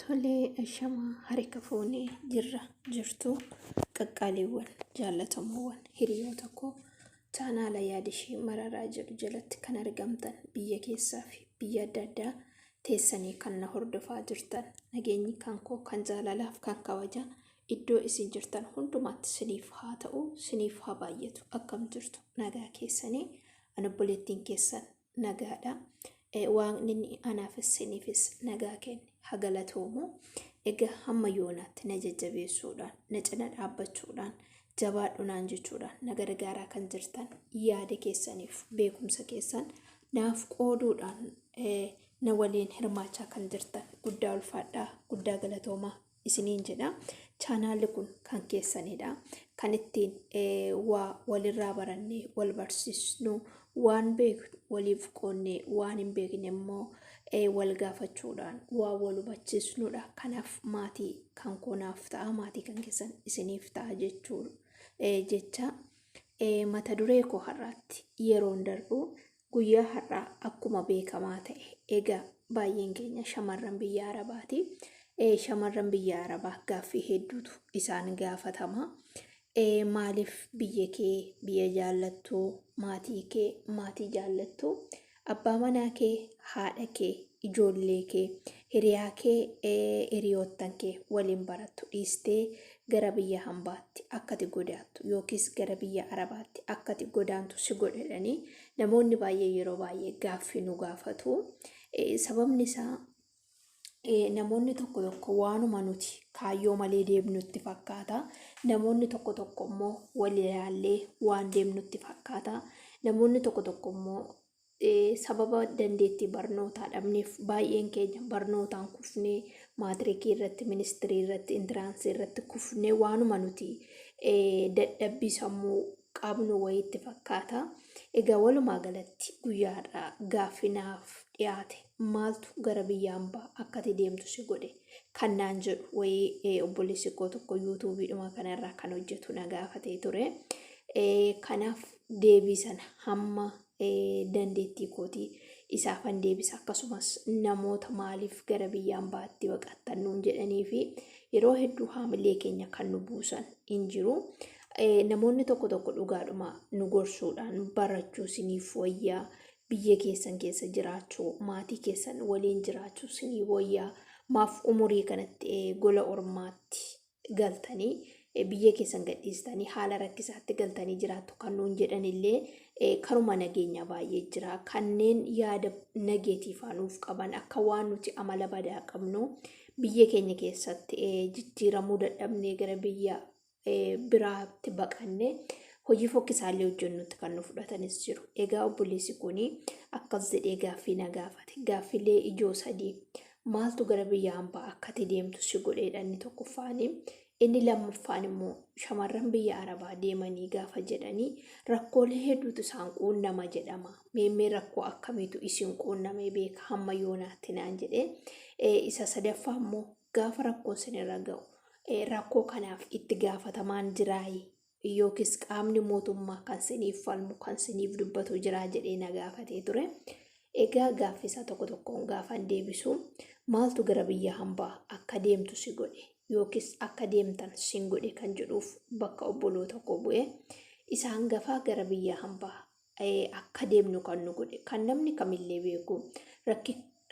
Tolee shamaa harika fuunee jirra jirtuu qaqqaaliiwwan jaallatamoowwan hiriyoota koo chaanaala yaadishii mararaa jedhu jalatti kan argamtan biyya keessaa fi biyya adda addaa teessanii kan na hordofaa jirtan nageenyi kan koo kan jaalalaaf kan kabajaa iddoo isin jirtan hundumaatti siniif haa ta'u siniif haa baay'atu akkam jirtu nagaa keessanii an obboleettiin keessan nagaadha. Eh, Waaqni inni anaafis siniifis nagaa kenne haa galatoomu. Egaa hamma yoonaatti na jajjabeessuudhaan, na cina dhaabbachuudhaan, jabaadhu naan jechuudhaan na gargaaraa kan jirtan yaada keessaniif beekumsa keessan naaf qooduudhaan eh, na waliin hirmaachaa kan jirtan guddaa ulfaadhaa, guddaa galatoomaa. isiniin jedha chaanaalli kun kan keessanidha kan ittiin waa walirraa barannee wal barsiisnu waan beeknu waliif qoonnee waan hin beekne immoo wal gaafachuudhaan waa wal hubachiisnudha kanaaf maatii kan koonaaf ta'a maatii kan keessan isiniif ta'a jechuu jecha mata duree koo har'aatti yeroon darbu Guyyaa har'aa akkuma beekamaa ta'e egaa baay'een keenya shamarran biyya Arabaati. Shamarran biyya Arabaa gaaffii hedduutu isaan gaafatama. Maaliif biyya kee biyya jaallattu, maatii kee maatii jaallattu, abbaa manaa kee, haadha kee, ijoollee kee, hiriyaa kee, hiriyoottan kee waliin barattu dhiistee gara biyya hambaatti akkati godaattu yookiis gara biyya arabaatti akkati godaantu si godhedhanii namoonni baay'ee yeroo baay'ee gaaffii nu gaafatu. Eh, Sababni isaa Eh, namoonni tokko tokko waanuma nuti kaayyoo malee deemnutti fakkaata. Namoonni tokko tokko immoo wal ilaallee waan deemnutti fakkaata. Namoonni tokko tokko immoo sababa dandeettii barnootaa dhabneef baay'een keenya barnootaan kufnee maatirikii irratti, ministirii irratti, intiraansii irratti kufnee waanuma nuti dadhabbii sammuu qabnu wayiitti fakkaata. Egaa walumaa galatti guyyaa har'aa gaaffii naaf dhiyaate maaltu gara biyya ambaa akkati deemtu si godhe kan naan jedhu wayii obboleessi koo tokko yuutuubiidhuma kanarraa kan hojjetu na gaafatee ture. Kanaaf deebii sana hamma dandeettii kootii isaafan deebisa akkasumas namoota maaliif gara biyya ambaatti baqattan nuun jedhanii fi yeroo hedduu haamilee keenya kan nu buusan hin jiru. Namoonni tokko tokko dhugaadhuma nu gorsuudhaan barachuu siniif wayyaa biyya keessan keessa jiraachuu maatii keessan waliin jiraachuu sinii wayyaa maaf umurii kanatti gola ormaatti galtanii biyya keessan gadhiistanii haala rakkisaatti galtanii jiraattu kan nuun jedhanillee karuma nageenyaa baay'ee jira. Kanneen yaada nageetiifaa nuuf qaban akka waan nuti amala badaa qabnu biyya keenya keessatti jijjiiramuu dadhabnee gara biyya biraatti baqanne hojii fokkisaallee hojjennutti kan nu fudhatanis jiru. Egaa obboleessi kun akkas jedhee gaaffii na gaafate. Gaaffilee ijoo sadii maaltu gara biyya hambaa akka ati deemtu si godheedha inni tokkoffaanii. Inni lammaffaan immoo shamarran biyya Arabaa deemanii gaafa jedhanii rakkoolee hedduutu isaan quunnama jedhama. Meemmee rakkoo akkamiitu isin quunnamee beeka hamma yoonaatti naan jedhee. Isa sadaffaa immoo gaafa rakkoon sinirra ga'u rakkoo kanaaf itti gaafatamaan jiraayi yookiis qaamni mootummaa kan siniif falmu kan siniif dubbatu jiraa jedhee na gaafatee ture. Egaa gaaffisaa tokko tokkoon gaafan deebisu maaltu gara biyya hambaa akka deemtu si godhe yookiis akka deemtan sin godhe kan jedhuuf bakka obboloota koo bu'e isa hangafaa gara biyya hambaa akka deemnu kan nu godhe kan namni kamillee beeku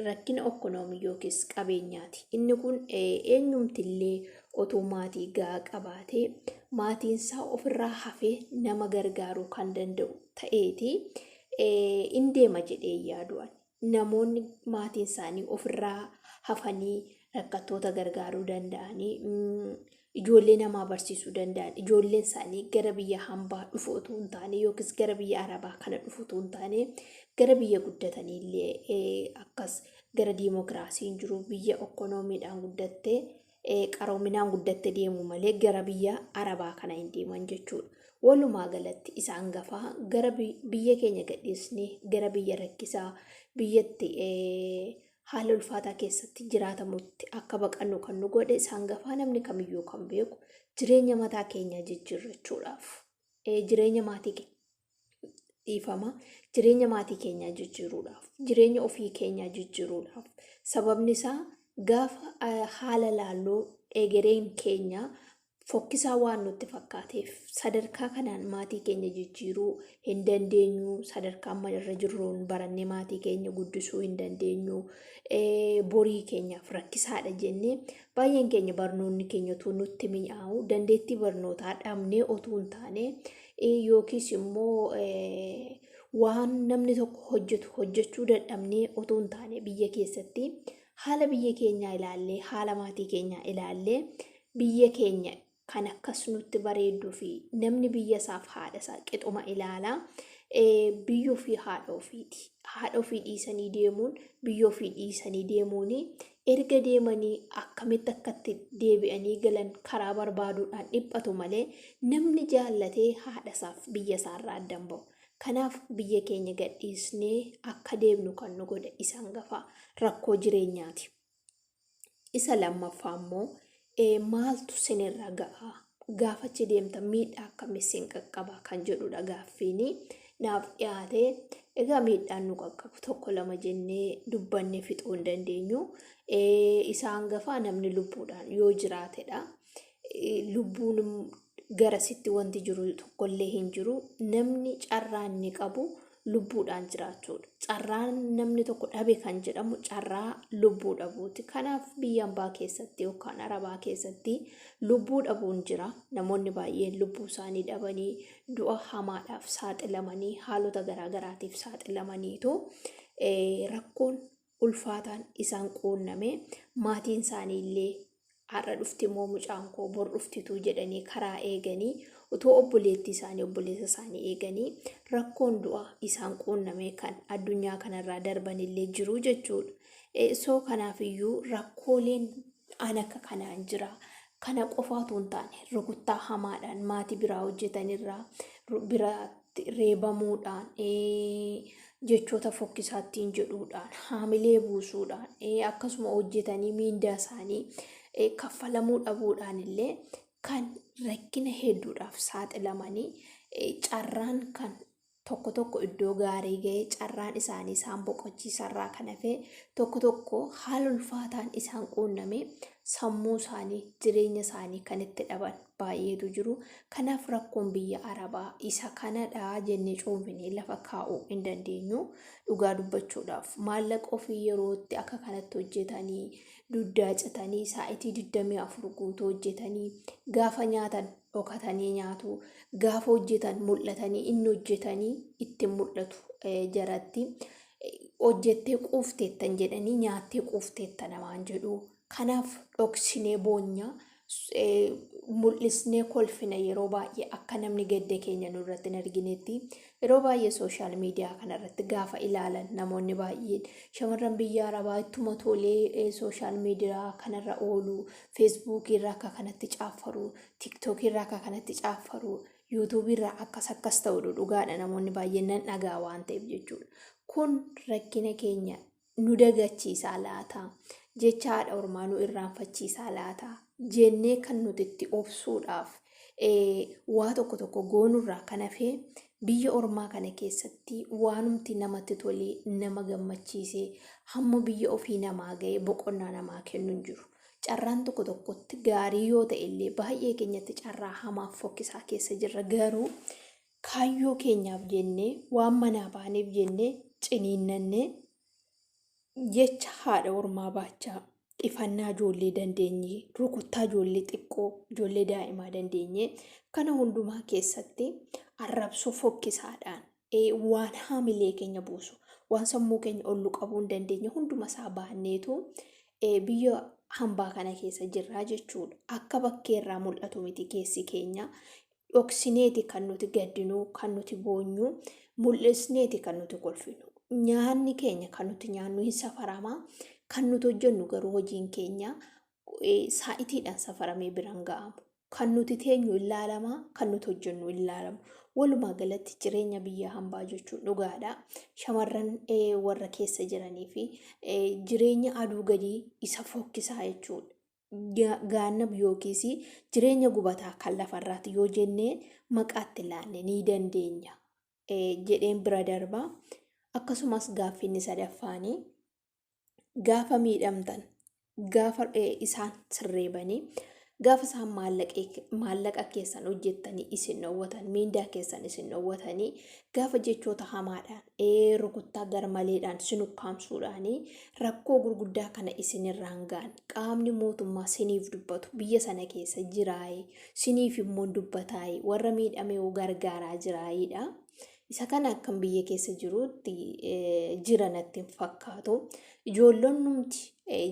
rakkina okkonoomii yookiis qabeenyaati. Inni kun eenyumtillee otoo maatii gahaa qabaatee maatiinsaa ofirraa hafee nama gargaaruu kan danda'u ta'eeti in deema jedhee yaadu ani. namoonni maatiin isaanii ofirraa hafanii rakkattoota gargaaruu danda'anii ijoollee namaa barsiisuu danda'an ijoolleen isaanii gara biyya hambaa dhufu utuu hin taane yookiis gara biyya arabaa kana dhufu utuu hin taane gara biyya guddatanii illee akkas gara diimokiraasiin jiru biyya ekonomiidhaan guddattee qaroominaan guddatte deemu malee gara biyya arabaa kana hin deeman jechuudha. Walumaa galatti isaan gafaa gara biyya keenya gadhiisnee gara biyya rakkisaa biyyatti haala ulfaataa keessatti jiraatamutti akka baqannu kan nu godhe isaan gafaa namni kamiyyuu kan beeku jireenya mataa keenyaa jijjiirrachuudhaaf jireenya maatii keenya dhiifama jireenya maatii keenyaa jijjiiruudhaaf jireenya ofii keenyaa jijjiiruudhaaf sababni isaa gaafa ah, haala laalluu egereen keenya fokkisaa waan nutti fakkaateef sadarkaa kanaan maatii keenya jijjiiruu hin dandeenyu sadarkaa amma irra jirruun barannee maatii keenya guddisuu hin dandeenyu eh, borii keenyaaf rakkisaadha jennee baay'een keenya barnoonni keenya utuu nutti mi'aawu dandeettii barnootaa dhabnee otuu hin taane yookiis immoo waan namni tokko hojjetu hojjechuu dadhabnee otoo hin taane biyya keessatti haala biyya keenyaa ilaallee haala maatii keenyaa ilaallee biyya keenya kan akkas nutti bareedduu fi namni biyya isaaf haadha isaa qixuma ilaala biyyoo fi haadha ofiiti haadha ofii dhiisanii deemuun biyyoo ofii dhiisanii deemuun Erga deemanii akkamitti akka itti deebi'anii galan karaa barbaaduudhaan dhiphatu malee namni jaallate haadhasaaf biyyasaarraa adda hin ba'u. Kanaaf biyya keenya gadhiisnee akka deemnu kan nu godhe isa hangafaa rakkoo jireenyaati. Isa lammaffaa immoo ee maaltu sinirra ga'a? Gaafa achi deemtan miidhaa akkamii sin qaqqaba kan jedhudha gaaffiin naaf dhiyaate. Egaa miidhaan nu qaqqabu tokko lama jennee dubbanne fixuu hin dandeenyu. Isa hangafaa namni lubbuudhaan yoo jiraatedha. Lubbuun garasitti wanti jiru tokkollee hin jiru. Namni carraa inni qabu lubbuudhaan jiraachuudha. Carraan namni tokko dhabe kan jedhamu carraa lubbuu dhabuuti. Kanaaf biyya ambaa keessatti yookaan arabaa keessatti lubbuu dhabuun jira. Namoonni baay'een lubbuu isaanii dhabanii du'a hamaadhaaf saaxilamanii haalota garaagaraatiif saaxilamaniitu rakkoon ulfaataan isaan quunname maatiin isaanii illee har'a dhufti moo mucaan koo bor dhuftituu jedhanii karaa eeganii utuu obboleettii isaanii obboleessa isaanii eeganii rakkoon du'a isaan quunname kan addunyaa kanarraa darban illee jiru jechuudha. Eh, So kanaaf iyyuu rakkooleen an akka kanaan jira. Kana qofa utuu hin taane rukuttaa hamaadhaan maatii biraa hojjetanirraa ru- bira reebamuudhaan jechoota fokkisaa ittiin jedhuudhaan haamilee buusuudhaan akkasuma hojjetanii miindaa isaanii kaffalamuu dhabuudhaan illee kan rakkina hedduudhaaf saaxilamanii carraan kan tokko tokko iddoo gaarii ga'ee carraan isaanii isaan boqochiisarraa kan hafee tokko tokko haala ulfaataan isaan quunnamee sammuu isaanii jireenya isaanii kan itti dhaban baay'eetu jiru. Kanaaf rakkoon biyya Arabaa isa kanadha jennee cuunfinee lafa kaa'uu hin dandeenyu. Dhugaa dubbachuudhaaf maallaqa ofii yerootti akka kanatti hojjetanii dugdaa citanii saa'itii 24 guutuu hojjetanii gaafa nyaatan dhokatanii nyaatu gaafa hojjetan mul'atanii inni hojjetanii itti mul'atu eh, jaratti eh, hojjettee quufteettan jedhanii nyaattee quufteetta namaan jedhu Kanaaf dhoksinee boonya, mul'isnee kolfina yeroo baay'ee akka namni gadda keenya nurratti hin arginetti yeroo baay'ee sooshaal miidiyaa kanarratti gaafa ilaalan namoonni baay'een shamarran biyya arabaa ittuma tolee sooshaal miidiyaa kanarra oolu feesbuukii irraa akka kanatti caaffaru tiktookii irraa akka kanatti caaffaru yuutuubii irraa akkas akkas ta'u dhugaadha namoonni baay'een nan dhagaa waan ta'eef jechuudha kun rakkina keenya nu dagachiisaa laata? Jecha haadha ormaa nu irraanfachiisaa laata? Jennee kan nuti itti obsuudhaaf waa tokko tokko goonurraa kan hafee biyya ormaa kana keessatti waanumti namatti tolee nama gammachiisee hamma biyya ofii namaa ga'ee boqonnaa namaa kennu hin jiru. Carraan tokko tokkotti gaarii yoo ta'e illee baay'ee keenyatti carraa hamaaf fokkisaa keessa jirra garuu kaayyoo keenyaaf jennee waan manaa baaneef jennee ciniinnannee jecha haadha ormaa baachaa ifannaa ijoollee dandeenyee rukuttaa ijoollee xiqqoo ijoollee daa'imaa dandeenyee kana hundumaa keessatti arrabsoo fokkisaadhaan waan haamilee keenya buusu waan sammuu keenya ollu qabuu hin dandeenye hunduma isaa baanneetu biyya hambaa kana keessa jirraa jechuudha akka bakkee irraa mul'atu miti keessi keenya Dhoksineeti kan nuti gaddinu, kan nuti boonyu, mul'isneeti kan nuti kolfinu. Nyaanni keenya kan nuti nyaannu hin safarama. Kan nuti hojjennu garuu hojiin keenya saa'itiidhaan safaramee biraan ga'amu. Kan nuti teenyu hin laalama, kan nuti hojjennu hin laalamu. Walumaa galatti jireenya biyya hambaa jechuun dhugaadha. Shamarran warra keessa jiranii fi jireenya aduu gadii isa fokkisaa jechuudha. gaannam yookiis jireenya gubataa kan lafarraati yoo jennee maqaatti laanne ni dandeenya jedheen bira darba. Akkasumas gaaffiinni sadaffaanii gaafa miidhamtan gaafa isaan sirreebanii gaafa isaan maallaqa keessan hojjettanii isin dhowwatan miindaa keessan isin dhowwatanii gaafa jechoota hamaadhaan rukuttaa garmaleedhaan sin ukkaamsuudhaan rakkoo gurguddaa kana isinirraan ga'an qaamni mootummaa siniif dubbatu biyya sana keessa jiraa'ee siniif immoo dubbataa'ee warra miidhamee gargaaraa jiraa'iidha. Isa kana akkan biyya keessa jiruutti jira natti hin fakkaatu. Ijoollonnumti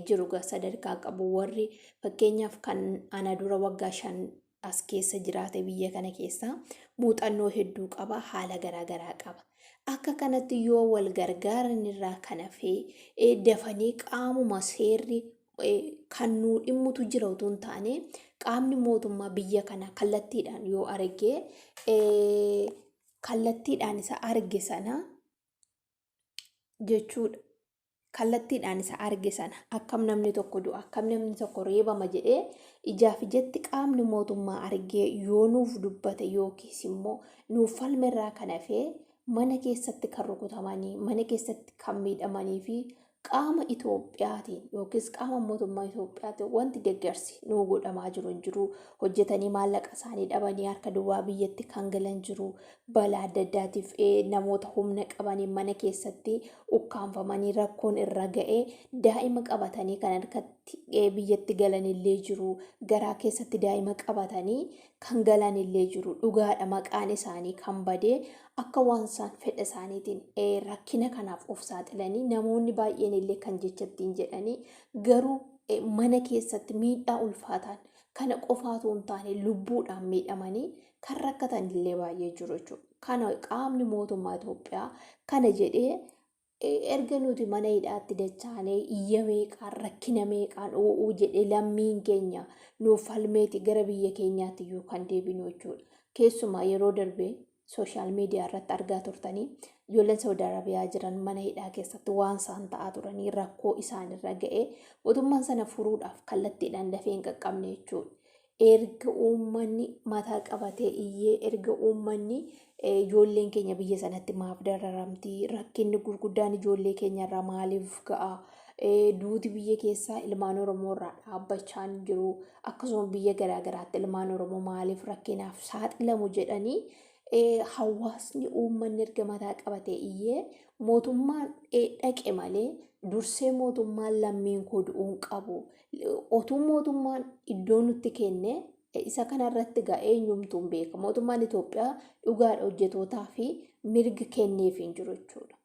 jiru sadarkaa qabu warri fakkeenyaaf kan ana dura waggaa shan as keessa jiraate biyya kana keessa muuxannoo hedduu qaba haala garaa garaa qaba. Akka kanatti yoo wal gargaaran irraa kan hafee eh, dafanii qaamuma seerri eh, kan nuu dhimmutu jira utuu hin taane qaamni mootummaa biyya kana kallattiidhaan yoo arge eh, kallattiidhaan isa arge sana jechuudha. Kallattiidhaan isa arge sana akkam namni tokko du'a akkam namni tokko reebama jedhee ijaaf ijatti qaamni mootummaa argee yoo nuuf dubbate yookiis immoo nuuf falme irraa kan hafee mana keessatti kan rukutamanii mana keessatti kan miidhamanii fi qaama Itoophiyaatiin yookiis qaama mootummaa Itoophiyaatiin wanti deeggarsi nuu godhamaa jiru hin jiru. Hojjetanii maallaqa isaanii dhabanii harka duwwaa biyyatti kan galan jiru. balaa adda addaatiif namoota humna qabaniin mana keessatti ukkaamfamanii rakkoon irra ga'e daa'ima qabatanii kan harkatti biyyatti galanillee jiru garaa keessatti daa'ima qabatanii kan galanillee jiru dhugaadha maqaan isaanii kan badee akka waan isaan fedha isaaniitiin rakkina kanaaf of saaxilanii namoonni baay'een illee kan jechattiin jedhanii garuu mana keessatti miidhaa ulfaataan kana qofaatu hin taane lubbuudhaan miidhamanii kan rakkatan illee baay'ee jiru jechuudha. Kana qaamni mootummaa Itoophiyaa kana jedhee erga nuti mana hidhaatti dachaanee iyya meeqaan rakkina meeqaan oo'uu jedhee lammiin keenya nuuf falmeeti gara biyya keenyaatti iyyuu kan deebinu jechuudha. Keessumaa yeroo darbee sooshaal miidiyaa irratti argaa turtanii ijoolleen Saawud Arabiyaa jiran mana hidhaa keessatti waan isaan ta'aa turanii rakkoo isaanirra ga'ee mootummaan sana furuudhaaf kallattiidhaan dafee hin qaqqabne jechuudha. Erga uummanni mataa qabatee iyyee, erga uummanni ijoolleen keenya biyya sanatti maaf dararamti, rakkinni gurguddaan ijoollee keenya irra maaliif ga'a, duuti biyya keessaa ilmaan Oromoo irraa dhaabbachaa hin jiru, akkasuma biyya garaa garaatti ilmaan Oromoo maaliif rakkinaaf saaxilamu jedhanii hawaasni uummanni erga mataa qabatee iyyee mootummaan dhaqe malee dursee mootummaan lammiin koo du'uun qabu otuu mootummaan iddoo nutti kenne isa kanarratti gaa eenyumtuu hin beeka. Mootummaan Itoophiyaa dhugaadha hojjetootaa fi mirgi kenneef hin jiru jechuudha.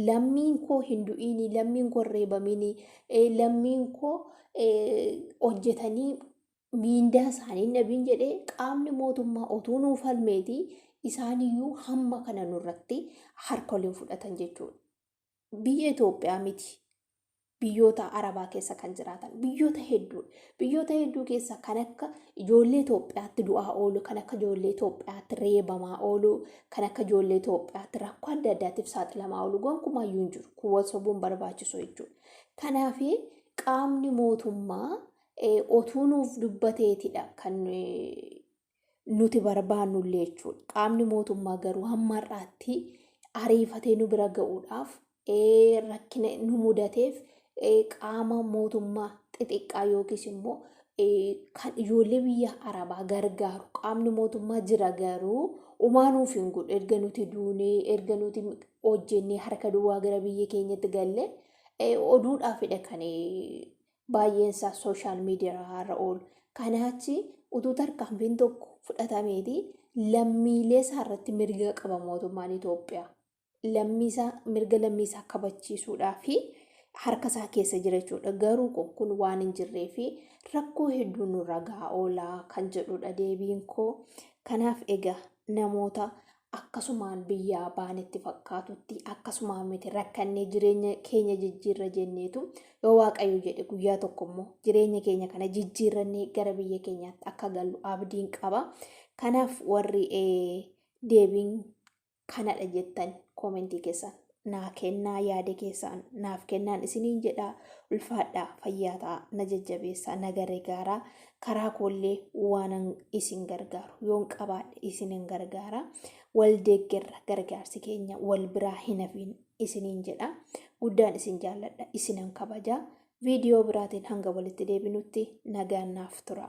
Lammiin koo hin du'iinii, lammiin koo hin reebamiinii, lammiin koo hojjetanii miindaa isaanii hin dhabiin jedhee qaamni mootummaa otuu nuu falmeetii isaaniyyuu hamma kana nurratti harka waliin fudhatan jechuudha. biyya Itoophiyaa miti biyyoota Arabaa keessa kan jiraatan biyyoota hedduu biyyoota hedduu keessa kan akka ijoollee Itoophiyaatti du'aa oolu kan akka ijoollee Itoophiyaatti reebamaa oolu kan akka ijoollee Itoophiyaatti rakkoo adda addaatiif saaxilamaa oolu gonkumaa iyyuu hin jiru kun wal sobuun barbaachisu jechuudha. Kanaaf qaamni mootummaa otuu nuuf dubbateetidha kan nuti barbaannu illee jechuudha. Qaamni mootummaa garuu hamma har'aatti ariifatee nu bira ga'uudhaaf rakkina nu mudateef qaama mootummaa xixiqqaa yookiis immoo kan ijoollee biyya arabaa gargaaru qaamni mootummaa jira garuu umaa nuuf hin godhu erga nuti duunee erga nuti hojjennee harka duwwaa gara biyya keenyatti galle oduudhaafidha kan baay'eensaa sooshaal miidiyaarra oolu. Kanaa achi utuu tarkaanfiin tokko fudhatameeti lammiilee isaarratti mirga qaba mootummaan Itoophiyaa. Lammiisaa mirga lammiisaa kabachiisuudhaa fi harka isaa keessa jira jechuudha. Garuu kun kun waan hin jirree fi rakkoo hedduu nurra gahaa oolaa kan jedhudha deebiin koo. Kanaaf egaa namoota akkasumaan biyyaa baanetti fakkaatutti akkasumaan miti rakkannee jireenya keenya jijjiirra jenneetu yoo waaqayyo jedhe guyyaa tokko immoo jireenya keenya kana jijjiirrannee gara biyya keenyaatti akka gallu abdiin qaba. Kanaaf warri deebiin kanadha jettan koomentii keessan naa kennaa yaada keessaan naaf kennaan isiniin jedha ulfaadhaa fayyaa ta'a na jajjabeessaa na gargaaraa karaa koollee waanan isin gargaaru yoon qabaadhe isinin gargaara wal deeggerra gargaarsi keenya wal biraa hin hafiin isiniin jedha guddaan isin jaalladha isinan kabaja viidiyoo biraatiin hanga walitti deebinutti nagaan naaf tura.